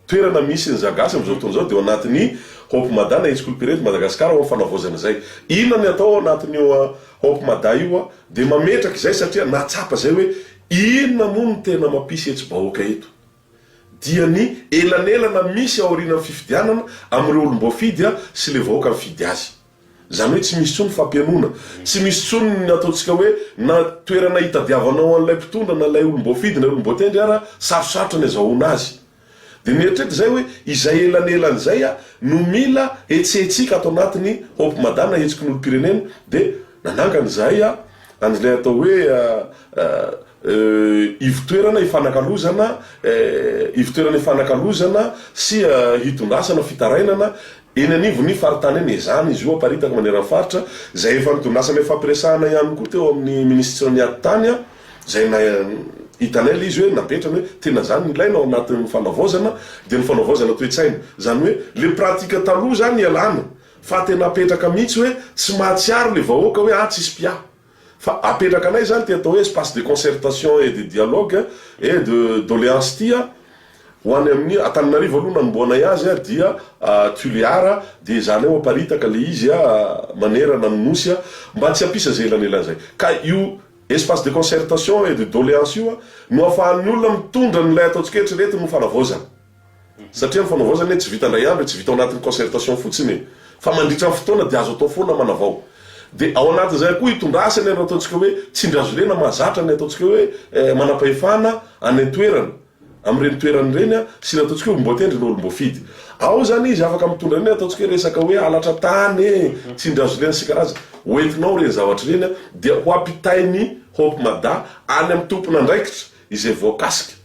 toerana misy ny za gasy amin'izao fotoana izao dia ao anatin'ny Hope Mada na Entsikilompirenena eto Madagasikara ho an fanavaozana izay. Inona ny atao ao anatin'io Hope Mada io an dia mametraka izay satria nahatsapa izay hoe Inona moa no tena mampisy hetsi-bahoaka eto? Dia ny elanelana misy aorianan'ny fifidianana amin'ireo olom-boafidy sy ilay vahoaka mifidy azy. Izany hoe tsy misy intsony fampihainoana, tsy misy intsony ny ataontsika hoe na toerana hitadiavanao an'ilay mpitondra na ilay olom-boafidy na olom-boatendry ara, sarosarotra ny azahoana azy. Dia mieritreritra izay hoe izay elanelany izay aho no mila hetsihetsika ato anatin'ny Hope Mada na hetsiky ny olom-pirenena dia nanangana izahay an'ilay atao hoe ivo-toerana ifanakalozana ivo-toerana ifanakalozana sy hitondrasana fitarainana eny anivon'ny faritany eny. Ezahana izy io haparitaka maneran'ny faritra izay efa nitondrasana ifampiresahana ihany koa teo amin'ny minisitran'ny atitany. Izay na hitanay ilay izy hoe napetrany hoe tena izany no ilaina ao anatin'ny fanavaozana dia ny fanavaozana toe-tsaina. Izany hoe ilay pratika taloha izany ialana fa tena apetraka mihitsy hoe tsy mahatsiaro ilay vahoaka hoe ah tsisy mpiahy fa apetrakanay izany ity atao hoe espace de concertation et de dialogue et de doléance ity a. Ho any amin'ny Antananarivo aloha nanombohanay azy a dia Tuléar a dia ezahanay ho aparitaka ilay izy a manerana ny Nosy a mba tsy hampisy izay elanelan'izay ka io Espace de concertation et de doléance io no afahan'ny olona mitondra an'ilay ataontsika hoe eritreretin'ny ho fanavaozana. Satria ny fanavaozana e tsy vita indray andro e, tsy vita ao anatin'ny concertation fotsiny e, fa mandritra ny fotoana dia azo atao foana manavao. Dia ao anatin'izay koa itondrasany ireo ataontsika hoe tsindry hazolena mahazatra ny ataontsika hoe manam-pahefana any an-toerana. amin'ireny toerana ireny sy ny ataontsika hoe olom-boatendry na olom-boafidy. Ao izany izy afaka mitondra ireny ataontsika hoe resaka hoe halatra tany e, tsindrin-hazolena sy karazany. Hoentinao ireny zavatra ireny dia ho ampitain'ny Hope Mada any amin'ny tompon'andraikitra izay voakasika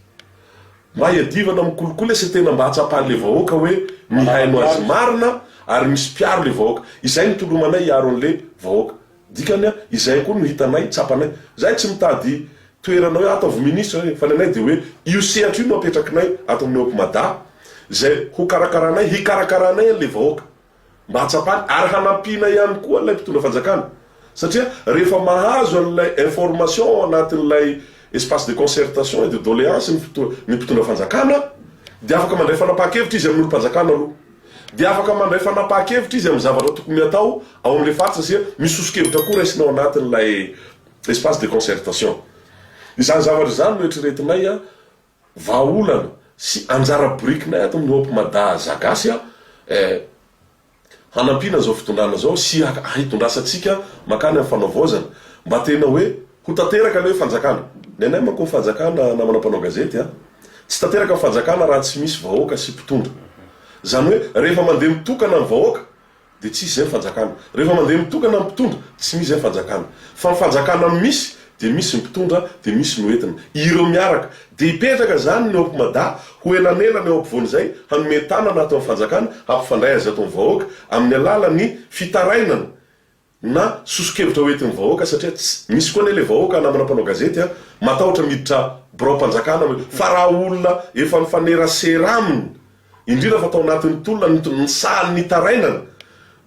mba hiadivana amin'ny kolikoly sy tena mba hahatsapan'ilay vahoaka hoe mihaino azy marina ary misy mpiaro ilay vahoaka. Izay no tolomanay hiaro an'ilay vahoaka. Dikany an, izay koa no hitanay, tsapanay. Zahay tsy mitady toerana hoe ataovy ministre re, fa ny anay dia hoe io sehatra io no apetrakinay ato amin'ny Hope Mada, izay hokarakaranay, hikarakaranay an'ilay vahoaka, mba hahatsapany, ary hanampiana ihany koa an'ilay mpitondra fanjakana, satria rehefa mahazo an'ilay information ao anatin'ilay espace de concertation et de doléance ny mpitondra fanjakana, dia afaka mandray fanapahan-kevitra izy amin'olom-panjakana aloha. dia afaka mandray fanapahan-kevitra izy amin'ny zavatra tokony hatao ao amin'ilay faritra satria misy soso-kevitra koa raisina ao anatin'ilay espace de concertation. Izany zavatra izany no eritreretinay vahaolana sy anjara birikinay ato amin'ny Hope Mada Za Gasy eh, hanampiana izao fitondrana izao sy hitondrasantsika mankany amin'ny fanaovaozana mba tena hoe Ho tanteraka ny hoe fanjakana. Ny anay manko ny fanjakana namana mpanao gazety a! Tsy tanteraka ny fanjakana raha tsy misy vahoaka sy mpitondra. Izany hoe rehefa mandeha mitokana ny vahoaka dia tsy misy izay ny fanjakana. Rehefa mandeha mitokana ny mpitondra tsy misy izay ny fanjakana. Fa ny fanjakana no misy dia misy ny mpitondra dia misy ny ho entina. Ireo miaraka. Dia hipetraka izany ny Hope Mada ho elanelana eo ampovoan'izay hanome tanana ato amin'ny fanjakana hampifandray azy ato amin'ny vahoaka amin'ny alalan'ny fitarainana na soso-kevitra ho entin'ny vahoaka satria tsy misy koa anie ilay vahoaka namana mpanao gazety a! matahotra miditra biraom-panjakana hoe fa raha olona efa nifanerasera aminy indrindra fa tao anatin'ny tolona ny ny sahan'ny nitarainana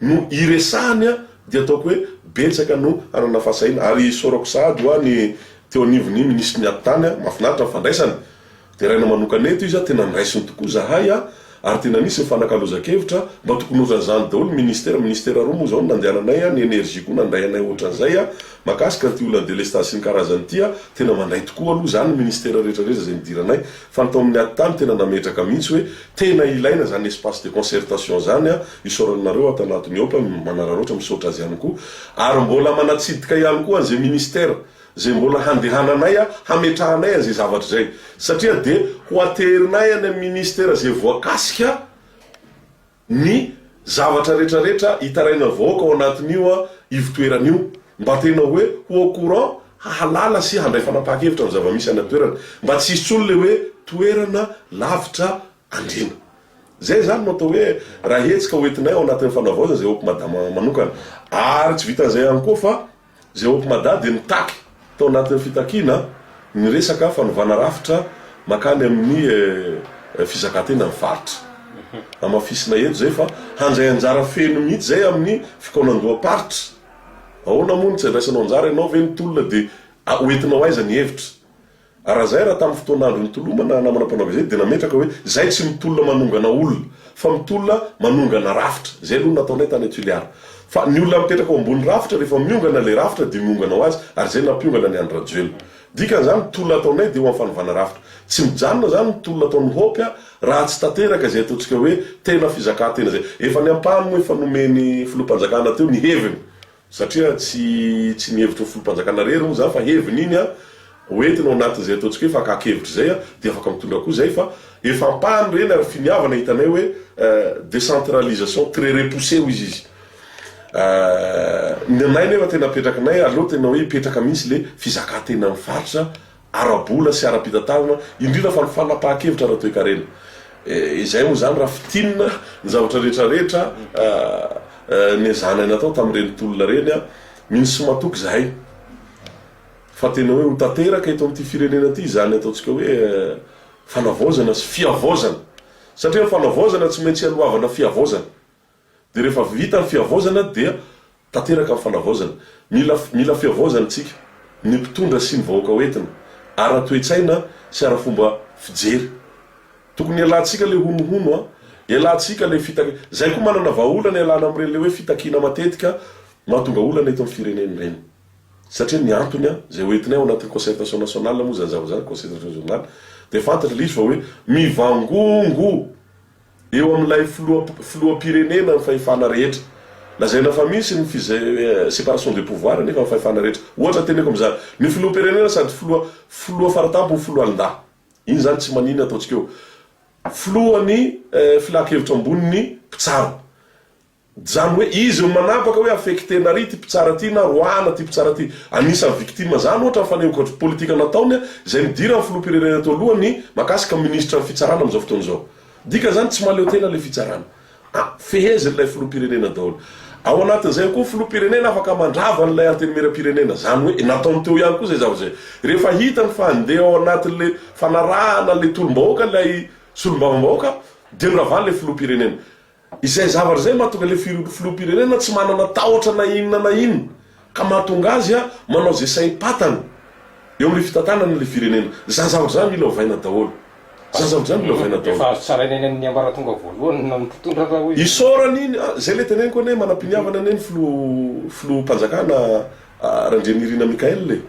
no iresahany a! dia ataoko hoe betsaka no hanana fahasahiana ary isaorako sahady hoa ny teo anivon'ny minisitry ny atitany a! mahafinaritra ny fandraisany Deraina manokana eto izy a, tena nraisiny tokoa zahay a, ary tena nisy nifanakalozan-kevitra, mba tokony ohatran'izany daholo ny ministera, ministera roa moa zao no nandehananay a, ny energie koa nandray anay ohatran'izay a, makasika an'ity olan'ny delestage sy ny karazany ity a, tena mandray tokoa aloha zany ny ministera rehetra rehetra zay nidiranay, fa ny tao amin'ny Attah no tena nametraka mihitsy hoe tena ilaina zany espace de concertation zany a, isaorana anareo ato anatin'ny Hope, manararaotra, misaotra azy ihany koa, ary mbola manatsidika ihany koa an'izay ministera izay mbola handehananay hametrahanay an'izay zavatra izay, satria dia ho aterinay any amin'ny minisitera izay voakasika ny zavatra retraretra hitarainan'ny vahoaka ao anatin'io ivotoerana io, mba tena hoe ho au courant, hahalala sy handray fanapahan-kevitra amin'ny zava-misy any an-toerana, mba tsy hisy intsony ilay hoe toerana lavitra andriana. Izay izany no atao hoe raha hetsika hoentinay ao anatin'ny fanavaozana izay hope madama manokana. Ary tsy vitan'izay ihany koa fa. Izay ao Ampimada dia mitaky tao anatin'ny fitakiana ny resaka fanovana rafitra makany amin'ny fizakan-tenan'ny faritra. Hamafisina eto izay fa handray anjara feno mihitsy izay amin'ny fikaonandoham-paritra. Ahoana moa no tsy andraisanao anjara ianao ve ny tolona dia hoentinao aiza ny hevitra? Raha izay, raha tamin'ny fotoan'andro nitolomana namana mpanao gazety dia nametraka hoe izay tsy mitolona manongana olona fa mitolona manongana rafitra. Izay aloha no nataonay tany à Tuliara. Fa ny olona mipetraka eo ambony rafitra rehefa miongana ilay rafitra dia miongana ho azy ary izay nampiongana ny an-dRajoelina. Dikan'izany ny tolona ataonay dia ho amin'ny fanovana rafitra. Tsy mijanona izany ny tolona ataon'ny Hope raha tsy tanteraka izay ataontsika hoe tena fizakantena izay. Efa ny ampahany moa efa nomen'ny Filoham-panjakana teo ny heviny. Satria tsy tsy ny hevitry ny Foloham-panjakana irery moa izany fa heviny iny an, ho entina ao anatin'izay ataontsika hoe fakan-kevitra izay an, dia afaka mitondra koa izay fa efa ampahany ireny ary finiavana hitanay hoe décentralisation très repoussée hoy izy izy. Ny anay nefa tena apetrakinay aleo tena hoe hipetraka mihitsy ilay fizakan-tenan'ny faritra ara-bola sy ara-pitantanana, indrindra fa ny fanapahan-kevitra ara-toekarena. Izay moa izany raha fintinina ny zavatra rehetra rehetra nezahanay natao tamin'ireny tolona ireny. Mino sy matoky izahay fa tena hoe ho tanteraka eto amin'ity firenena ity izany ataontsika hoe fanavaozana sy fihavaozana, satria ny fanavaozana tsy maintsy hialohavana fihavaozana. Dia rehefa vita ny fihavaozana dia tanteraka ny fanavaozana. Mila mila fihavaozana isika, ny mpitondra sy ny vahoaka hoentina, ara-toetsaina sy ara-fomba fijery. Tokony hialantsika ilay honohono an! Hialantsika ilay fitakiana. Izay koa manana vahaolana hialana amin'ireny ilay hoe fitakiana matetika mahatonga olana eto amin'ny firenena ireny. Satria ny antony an, izay hoentinay ao anatin'ny concertation nationale moa izany zavatra izany, concertation nationale, dia fantatra ilay izy fa hoe mivangongo! Eo amin'ilay filoham-pirenena ny fahefana rehetra. Lazaina fa misy ny separation des pouvoirs nefa ny fahefana rehetra. Ohatra teneniko amin'izany, ny filoham-pirenena sady filoha, filoha faratampony, foloalindahy. Iny izany tsy maninona ataontsika eo. Filohan'ny filankevitra ambonin'ny mpitsara. Zany hoe izy no manapaka hoe affecter-na ry ity mpitsara ity na roahana ity mpitsara ity. Anisan'ny victime zany ohatra ny fanehoan-kevitra politika nataony izay nidiran'ny filoham-pirenena teo alohany mahakasika ny minisitran'ny fitsarana amin'izao fotoana izao. Dika zany tsy mahaleo tena ilay fitsarana. A, fehezin'ilay filoham-pirenena daholo. Ao anatin'izay ao koa ny filoham-pirenena afaka mandrava an'ilay antenimieram-pirenena. Zany hoe nataony teo ihany koa izay zavatra izay. Rehefa hitany fa handeha ao anatin'ilay fanarahana an'ilay tolom-bahoaka ilay solombavambahoaka dia noravany ilay filoham-pirenena. Izay zavatra izay mahatonga ilay filoham-pirenena tsy manana tahotra na inona na inona, ka mahatonga azy manao izay saim-patany eo amin'ny fitantanana ilay firenena. Izany zavatra izany mila ovaina daholo. Izany zavatra izany mila ovaina daholo. Efa azo tsaraina eny amin'ny ambaratonga voalohany ny mpitondra raha hoy izany. Isaorana iny, izay ilay teneniko anie, manam-piniavana anie ny filoha filoham-panjakana Randrianirina Michaël e!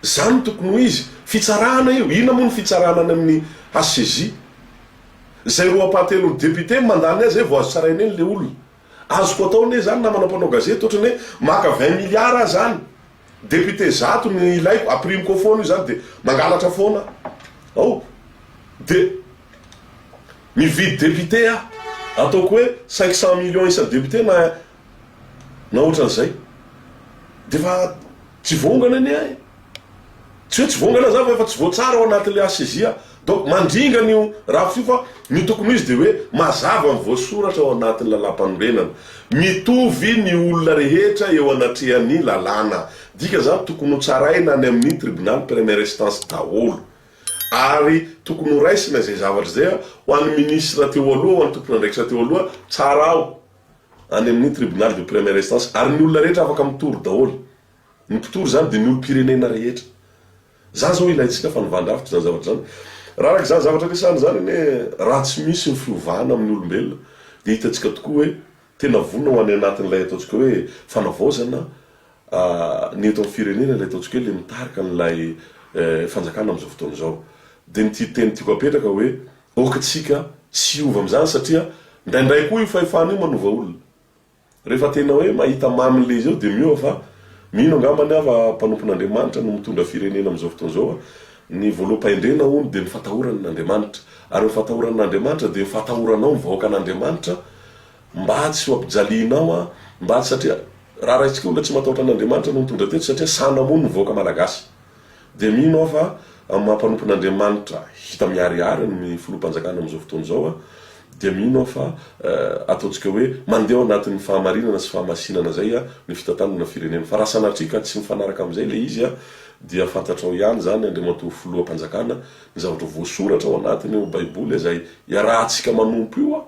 Izany no tokony ho izy. Fitsarana io, inona moa ny fitsarana any amin'ny HCJ? Zay roapahatelo député mandany ahy zay vao azo tsaraina eny le olona. Azoko atao anie zany namana mpanao gazety otrany hoe maka vingt milliards aho zany député zato no ilaiko aprimiko ao foana io zany de mangalatra foana ao de mividy député aho ataoko hoe cinq cent millions isa député na na ohatran'izay dia efa tsy vongana anie e! tsy hoe tsy vongana za fa efa tsy voatsara ao anatin'ilay HCJ aho donc mandringana io rafitra io fa ny tokony ho izy dia hoe mazava ny voasoratra ao anatin'ny lalàmpanorenana mitovy ny olona rehetra eo anatrehan'ny lalàna dika zany tokony ho tsaraina any amin'ny tribunal première instance daholo ary tokony ho raisina izay zavatra izay ho an'ny ministre teo aloha ho an'ny tompon'andraikitra teo aloha tsara ao any amin'ny tribunal de première instance ary ny olona rehetra afaka mitory daholo, ny mpitory izany dia ny olom-pirenena rehetra. Izany izao ilaintsika fa nivan-drafitra izany zavatra izany. Raha araka izany zavatra resahana izany anie raha tsy misy ny fiovana amin'ny olombelona dia hitantsika tokoa hoe tena vonona ho any anatin'ilay ataontsika hoe fanavaozana ny eto amin'ny firenena ilay ataontsika hoe ilay mitarika an'ilay fanjakana amin'izao fotoana izao. Dia ny teny tiako apetraka hoe Ok tsika tsy hiova amizany satria ndraindray koa io fahefana io manova olona. Rehefa tena hoe mahita mamy le izy eo de miova fa mino angambany aho fa mpanompon'Andriamanitra no mitondra firenena amizao fotoana zao a. Ny voaloham-pahendrena hono de ny fatahorana an'Andriamanitra. Ary ny fatahorana an'Andriamanitra de ny fatahoranao ny vahoakan'Andriamanitra mba tsy ho ampijalianao a, mba tsy satria raha raisitsika olona tsy matahotra an'Andriamanitra no nitondra teto satria sanamony ny vahoaka malagasy. Dia mino aho fa amin'ny maha mpanompon'Andriamanitra hita miharihary amin'ny filoham-panjakana amin'izao fotoana izao aho, dia mino aho fa ataontsika hoe mandeha ao anatin'ny fahamarinana sy fahamasinana izay ny fitantanana firenena. Fa raha sanatria ka tsy mifanaraka amin'izay ilay izy dia fantatrao ihany izany Andriamatoa Filoham-panjakana ny zavatra voasoratra ao anatiny eo Baiboly izay iarahantsika manompo io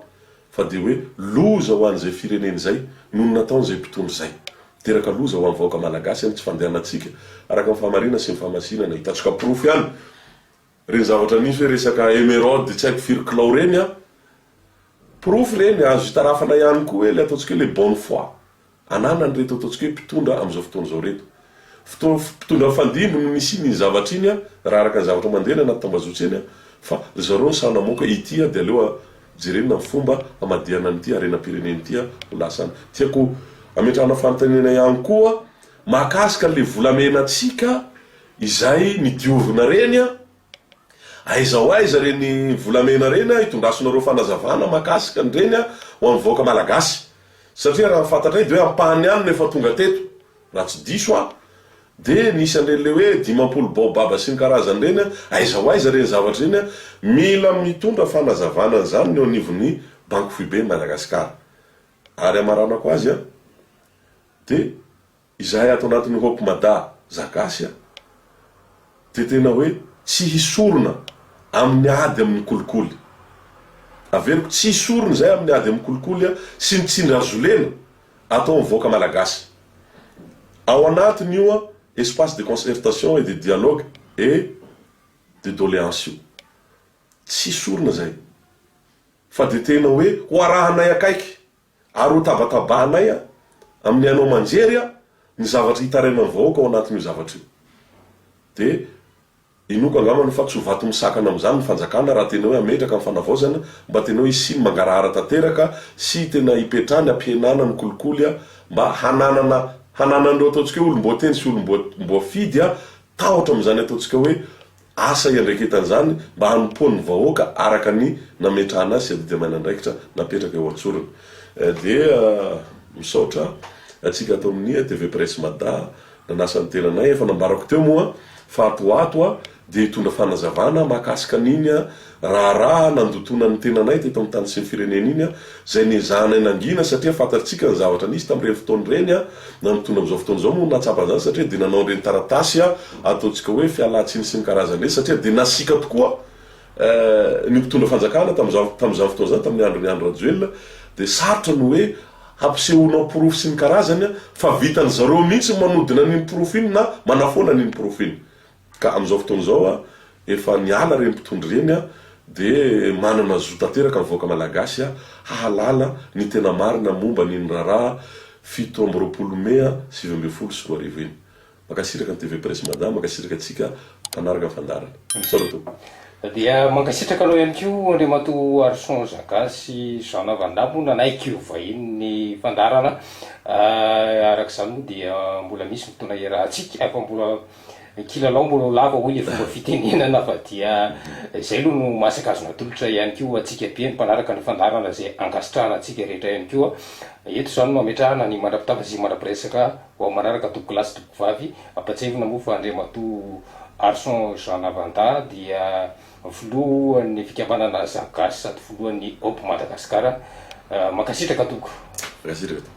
fa dia hoe loza ho an'izay firenena izay noho ny nataon'izay mpitondra izay. Miteraka loza ho an'ny vahoaka malagasy ny tsy fandehanantsika araka ny fahamarinana sy ny fahamasinana. Hitantsika porofo ihany ireny zavatra nisy hoe resaka emeraude tsy haiko firy kilao ireny an! Porofo ireny, azo itarafana ihany koa hoe ilay ataontsika hoe les bonnes fois. ananan'ireto ataontsika hoe mpitondra amin'izao fotoana izao ireto. Fotoana mpitondra mifandimby no nisian'iny zavatra iny raha araka ny zavatra mandeha any anaty tambazotra eny fa ry zareo no sahy namoaka ity dia aleo jerena ny fomba hamadihana an'ity harenam-pirenena ity ho lasa any. Tiako hametrahana fanontaniana ihany koa mahakasika an'ilay volamenantsika izay ny diovina ireny. Aiza ho aiza reny volamena reny a itondrasonareo fanazavana makasika an'ireny a ho an'ny vahoaka malagasy satria raha ny fantatray de hoe ampahany ihany no efa tonga teto raha tsy diso aho de nisy an'ireny le hoe dimampolo baobaba sy ny karazany ireny a aiza ho aiza ireny zavatra ireny a mila mitondra fanazavana an'izany ny eo anivon'ny banky foiben'i Madagasikara ary hamaranako azy a de Izahay ato anatin'ny Hope Mada za gasy a, dia tena hoe tsy hisorona amin'ny ady amin'ny kolikoly. Averiko tsy hisorona izahay amin'ny ady amin'ny kolikoly a, sy ny tsindrin-hazolena ataon'ny vahoaka malagasy. Ao anatin' io a espace de concertation et de dialogue et de doléance io. Tsy hisorona izahay. Fa dia tena hoe ho arahanay akaiky Ary hotabatabahanay amin'ny haino aman-jery ny zavatra hitarainan'ny vahoaka ao anatin'io zavatra io. Dia inoako angambany fa tsy ho vato misakana amin'izany ny fanjakana raha tena hoe hametraka ny fanavaozana mba tena hoe hisiany mangarahara tanteraka sy tena hipetrany hampihenana ny kolikoly mba hananana hananan'ireo ataontsika hoe olom-boatendry sy olom-boafidy tahotra amin'izany ataontsika hoe asa iandraiketan'izany mba hanompoan'ny vahoaka araka ny nametrahana azy sy adidin'andraikitra napetraka eo an-tsorony. Dia misaotra antsika ato amin'ny TV Presse Mada nanasa ny tenanay, efa nambarako teo moa fa ato ho ato dia hitondra fanazavana mahakasika an'iny Raharaha nandotoana ny tenanay teto amin'ny tany sy ny firenena iny, izay niezahanay nangina satria fantatsika ny zavatra nisy tamin'ireny fotoana ireny. Nanompoana amin'izao fotoana izao moa no nahatsapa an'izany satria dia nanao an'ireny taratasy ataontsika hoe fialantsiny sy ny karazany ireny satria dia nasiaka tokoa ny mpitondra fanjakana tamin'izany tamin'izany fotoana izany tamin'ny andron'i Andry Rajoelina dia sarotra ny hoe hampisehoanao porofo sy ny karazany fa vitan'izareo mihitsy ny manodina an'iny porofo iny na manafoana an'iny porofo iny. Ka amin'izao fotoana izao efa niala ireny mpitondra ireny dia manana zo tanteraka ny vahoaka Malagasy hahalala ny tena marina momba ny iny raharaha fito amby roapolo mey sivy ambin'ny folo sy roa arivo iny. Mankasitraka ny TV Presse Mada, mankasitraka antsika mpanaraka ny fandaharana. Saluto. Dia mankasitraka anao ihany koa Andriamatoa Harison Zaga sy Jean Vandamme moa nanaiky ho vahiny ny fandaharana. Araka izany moa dia mbola misy fotoana hiarahantsika fa mbola Ny kilalao mbola ho lava hoy le fomba fitenenana fa dia izay aloha no masaka azo natolotra ihany koa ho antsika be ny mpanaraka ny fandaharana izay ankasitrahana antsika rehetra ihany koa. Eto izany no ametrahana ny mandra-pitafa sy mandra-piresaka ho amin'ny manaraka tompoko lahy sy tompoko vavy. Ampahatsiahivina moa fa Andriamatoa Arson Jean Navanda dia filohan'ny fikambanana Zagasy sady filohan'ny Hope Madagascar. Mankasitraka tompoko. Mankasitraka tompoko.